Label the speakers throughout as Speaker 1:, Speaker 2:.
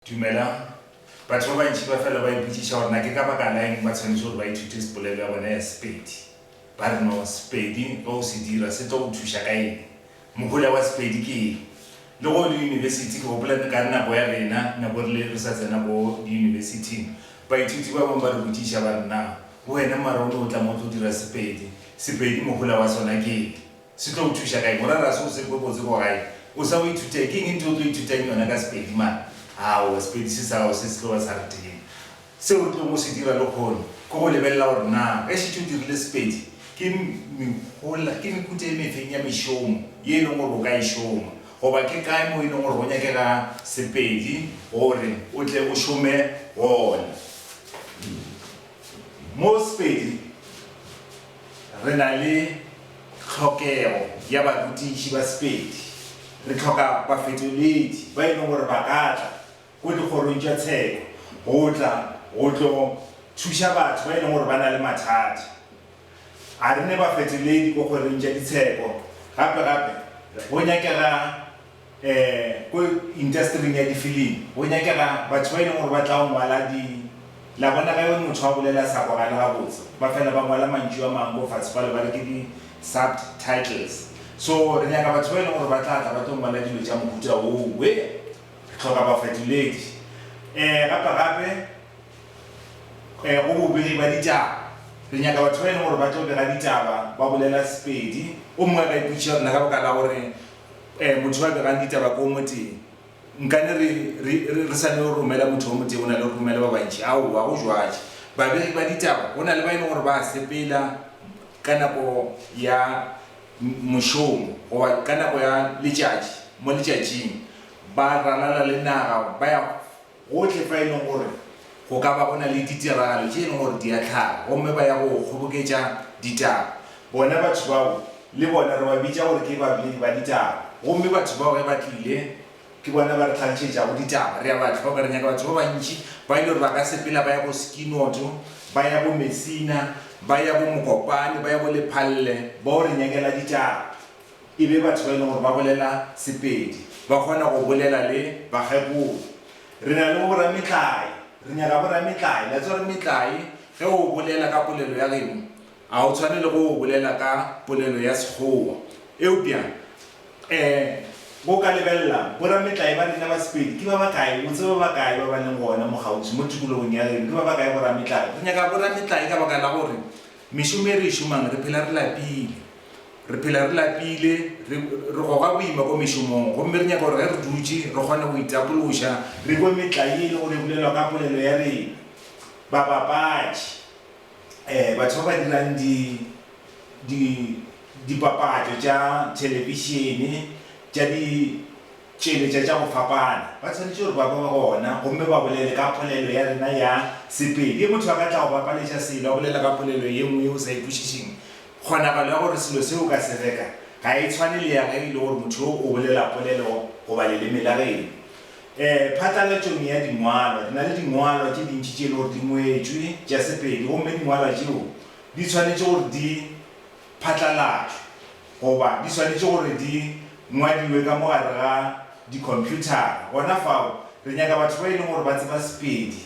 Speaker 1: Dumelang. Batho ba bantši ba fela ba ipotšiša gore na ke ka baka la eng ba tshwanetše gore ba ithute sepolelo ya bona ya Sepedi. Ba re no, Sepedi ge o se dira se tlo go thuša ka eng? Mohola wa Sepedi ke eng? Le ge o le yunibesithi, ke gopola ka nako ya rena, nako re le re sa tsena ko diyunibesithing, baithuti ba bangwe ba re botšiša ba re na, wena mara o ne o tla mo o tlo dira Sepedi. Sepedi mohola wa sona ke eng? Se tlo go thuša kae? Morara ga se o sepe botse ko gae. O sa o ithuta ke eng? Ntho o tlo ithutang yona ka Sepedi man. Aowa, Sepedi se sa gago se se tlo ba sa re tee. Seo o tlong go se dira lekhono ke go lebelela gore na ge šetše o dirile Sepedi ke mehola, ke mehuta e mefeng ya mešomo ye e leng gore o ka e šoma goba ke kae mo e leng gore go nyakega Sepedi gore o tle o šome gona. Mo Sepedi re na le tlhokego ya barutiši ba Sepedi. Re hloka bafetoledi ba e lego gore ba ka tla ko dikgorong tša tsheko go tla go tlo thuša batho ba e lego gore ba na le mathata. A re ne bafetoledi ko kgorong tša ditsheko. Gape-gape go nyakega. Ko intastering ya difilimi go nyakega batho ba e leng gore ba tla ngwala di. La bona ge motho a bolela a sa kwagale gabotse, ba fela ba ngwala mantšu a mangwe ko fase kwale ba re ke di subtitles. So re nyaka batho ba e leng gore ba tla tla ba tlo ngwala dilo tša mohuta woo. Re hloka bafetoledi. Gape gape go bobegi ba ditaba, re nyaka batho ba e leng gore ba tlo bega ditaba ba bolela Sepedi. O mongwe ge a ipotšiša gore na ka baka la gore Eh, motho ba begang ditaba ko moteng. Nkane re, re, re, re sane go romela motho o moteng o na le go romela ba bantši. Aowa, go jwaje. Babegi ba ditaba, go na le ba e le gore ba a sepela ka nako ya mošomo, goba ka nako ya letšatši, mo letšatšing, ba ralala le naga, ba ya Gohle fa e lego gore go ka ba go na le ditiragalo tše e lego gore di a hlaga gomme ba ya go kgoboketša ditaba, bona batho bao le bona re ba bitša gore ke baboledi ba ditaba. Gomme batho bao ge ba tlile, ke bona ba re hlagišetšago ditaba. Re a ba hloka, re nyaka batho ba bantši ba e lego gore ba ka sepela ba ya go Skinotho, ba ya go Messina, ba ya go Mokopane, ba ya go Lephalle, bao re nyakela ditaba. e be batho ba e lego gore ba bolela Sepedi ba kgona go bolela le bakgekolo. Re na le bo borametlae, re nyaka borametlae. Le a tseba gore metlae ge o bolela ka polelo ya geno ga o tshwane le ge o bolela ka polelo ya Sekgowa. Eupša um bo ka lebelela borametlae ba rena ba Sepedi ke ba bakae? O tseba ba bakae ba ba leng gona mo kgauswi mo tikologong ya geno? Ke ba bakae borametlae? Re nyaka borametlae ka baka la gore mešomo e re e šomang re phela re lapile. Re phela re lapile, re re goga boima kwa mešomong, gomme re nyaka gore ge re dutše re kgone go itapološa, re kwe metla ye e lego gore e bolelwa ka polelo ya rena. Babapatši, ee, batho ba ba dirang di, di, dipapatšo tša thelebišene, tša ditšweletša tša go fapana, ba swanetše gore ba be gona gomme ba bolele ka polelo ya rena ya Sepedi. Ge motho a ka tla go bapaletša selo a bolela ka polelo ye nngwe yeo o sa e kwešišeng, Kgonagalo ya gore selo se o ka se reka ga e tshwane le ya ge e le gore motho yo o bolela polelo goba leleme la geno. Ee, phatlalatšong ya dingwalwa, re na le dingwalwa tše dintši tše e le gore di ngwetšwe tša Sepedi gomme dingwalwa tšeo di swanetše gore di phatlalatšwe goba di swanetše gore di ngwadiwe ka mo gare ga dikhomphuthara. Gona fao, re nyaka batho ba e leng gore ba tseba Sepedi.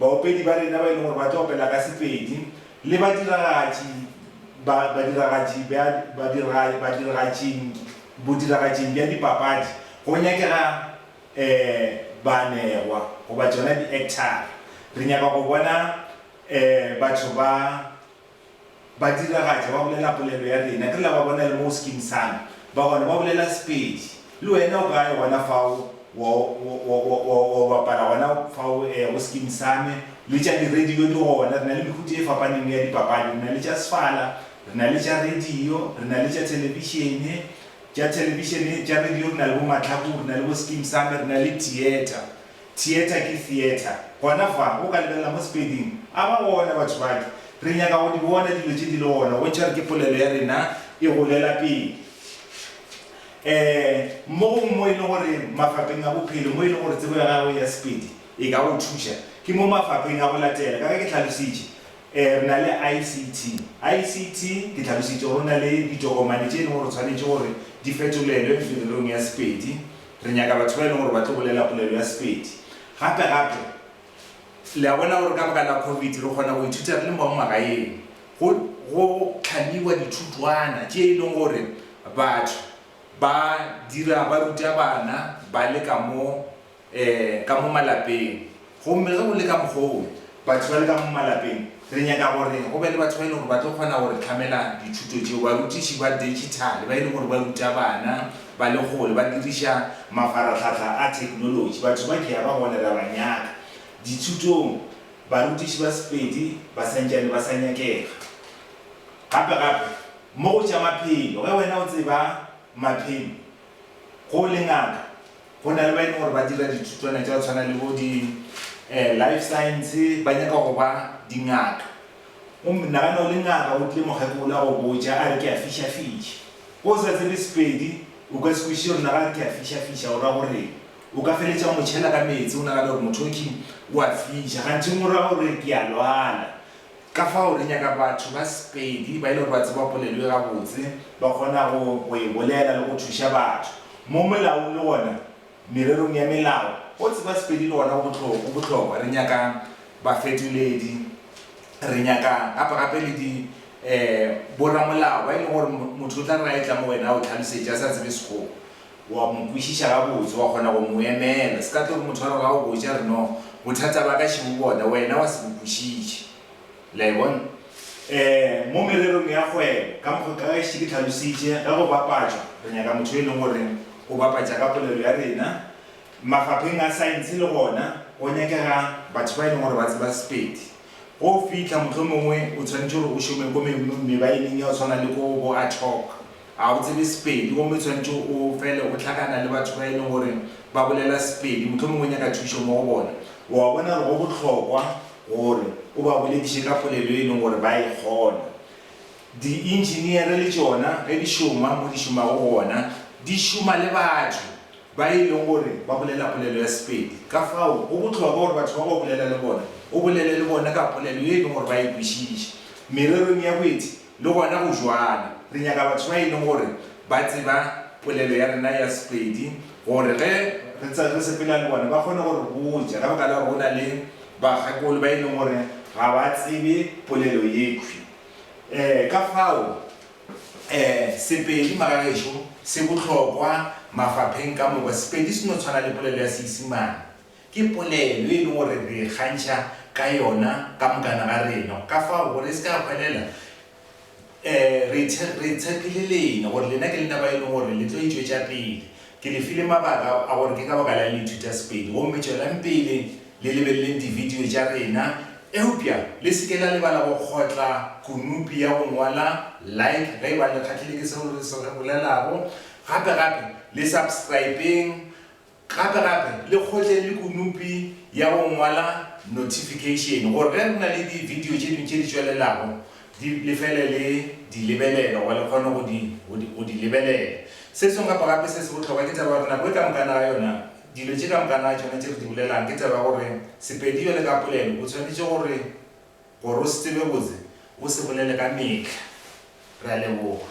Speaker 1: Baopedi ba rena ba e leng gore ba tlo opela ka Sepedi le badiragatši ba badiragatši ba badiragatši badiragatšing bodiragatšing bja dipapadi go nyakega eh baanegwa goba tšona di-actor-ra. Re nyaka go bona eh batho ba Ba diragatša, ba bolela polelo ya rena, ke re la ba bona le mo skin sala, ba gona ba bolela Sepedi. Le wena o kae gona fao, wa, wa, wa, wa, wa bapala gona fao, ee, go skin same. Le tša di-radio di gona, re na le mehuta e fapaneng ya dipapadi, re na le tša sefala, re na le tša radio, re na le tša thelebišene, tša thelebišene, tša radio re na le bo Matlhaku, re na le bo skin same, re na le theatre. Theatre ke theatre. Gona fa, o ka lebelela mo Sepeding. A ba gona, batho bake. Re nyaka go di bona dilo tše di le gona, bontšha gore ke polelo ya rena e golela pele. Ee, mo gongwe mo e lego gore mafapheng a bophelo, mo e lego gore tsebo ya gago ya Sepedi e ka go thuša, ke mo mafapheng a go latela. Ka ge ke hlalositše, re na le ICT. ICT, ke hlalositše gore go na le ditokomane tše e lego gore o tshwanetše gore di fetolelwe mererong ya Sepedi. Re nyaka batho ba e leng gore ba tlo bolela polelo ya Sepedi. Gape-gape, le a bona gore ka baka la Covid re kgona go ithuta re le mo magaeng. Go, go hlamiwa dithutwana tše e leng gore batho ba dira, ba ruta bana ba le ka mo, um, ka mo malapeng. Gomme ge go le ka mokgwa woo, batho bale ka mo malapeng, re nyaka gore go be le batho ba e lego gore ba tlo kgona go re hlamela dithuto tšeo, barutiši ba digital ba e lego gore ba ruta bana ba le kgole ba diriša mafarahlahla a technology. Batho ba ke ya ba gona, re a ba nyaka dithutong. Barutiši ba Sepedi ba sa ntšane ba sa nyakega. Gape gape, mo go tša maphelo, ge wena o tseba maphelo, ge o le ngaka, Go na le ba e leng gore ba dira dithutwana tša go tshwana le bo di eh, life science, ba nyaka go ba dingaka. O nagana o le ngaka, o tle mokgekolo a go botša a re ke a fišafiša. Ko o sa tsebe Sepedi, o ka se kwešiše gore na ga re ke a fišafiša o ra gore o ka feletša motšhela ka meetse o nagana gore motho o king o a fiša. Gantšeng o ra gore ke a lwala. Ka fao re nyaka batho ba Sepedi ba e le gore ba tseba polelo e gabotse, ba kgonago go e bolela le go thuša batho. Mo molaong le gona mererong ya melao, go tseba Sepedi le gona go bohlokwa, go bohlokwa. Re nyaka bafetoledi, re nyaka gape-gape le di, eh, bo-ramolao ba e lego gore motho o tla re ge a etla mo wena a o hlalosetše a sa tsebe Sekgowa. O a mo kwešiša gabotse, wa kgona go mo emela. Se ka tlo re motho a re ga o botša, re no, bothata ba ka še bo bona, wena wa se bo kwešiše. Le a e bona? Ee, mo mererong ya kgwebo, ka mokgo ka gaešita ke tlhalositše, ge go bapatšwa, re nyaka motho yo e leng gore o bapatša ka polelo ya rena. Mafapheng a saense le gona go nyakega batho ba e leng gore ba tseba Sepedi. Go fihla, mohlomongwe o swanetše gore o šome ko me, mebaeneng ya go tshwana le ko bo Athock. Ga o tsebe Sepedi gomme o tshwanetše o fele o hlakana le batho ba e leng gore ba bolela Sepedi, mohlomongwe o nyaka thušo mo go bona. O a bona gore go bohlokwa gore o ba bolediše ka polelo e leng gore ba e kgona. Dientšiniere le tšona ge di šoma mo di šomago gona, di šoma le batho ba e leng gore ba bolela polelo ya Sepedi. Ka fao go bohlokwa gore batho bao o bolela le bona, o bolele le bona ka polelo ye e leng gore ba e kwešiša. Mererong ya boeti, Le gona go bjalo. Re nyaka batho ba e leng gore ba tseba polelo ya rena ya Sepedi, gore ge re tsa re sepela le bona ba kgone go re botša. Ka baka la gore go na le bakgekolo ba e leng gore ga ba tsebe polelo yekhwi. Um ka fao um Sepedi magagešo se bohlokwa mafapheng ka moka. Sepedi se no tshwana le polelo ya Seisimane. Ke polelo e e lego gore re ikgantšha ka yona ka mokana ga rena. Go ka fao, gore e se ka ya hwelela, re re tshepile lena, gore lena ke lena ba e lego gore le tlo e tšwetša pele. Ke le file mabaka a gore ke ka baka la'ng le ithuta Sepedi. Gomme tšwelang pele le lebeleleng dibidio tša rena. Eupša le se ke la lebala go kgotla kunupi ya go ngwala Like ge e ba le kgahlile ke seo re se re bolelago. Gape-gape le subscribeng Gape gape, le kgotšeng le kunupi ya go ngwala notification gore ge re na le di video tše dingwe tše di tšwelelago di le fele le di lebelela goba le kgone go di go di go di lebelela. Se sengwe gape gape se se bohlokwa ke taba ya gore nako e ka mokana ga yona dilo tše ka mokana ga tšona tše re di bolelang ke taba ya gore Sepedi bjale ka polelo o tshwanetše gore gore o se tsebe botse o se bolele ka mehla. Re a leboga.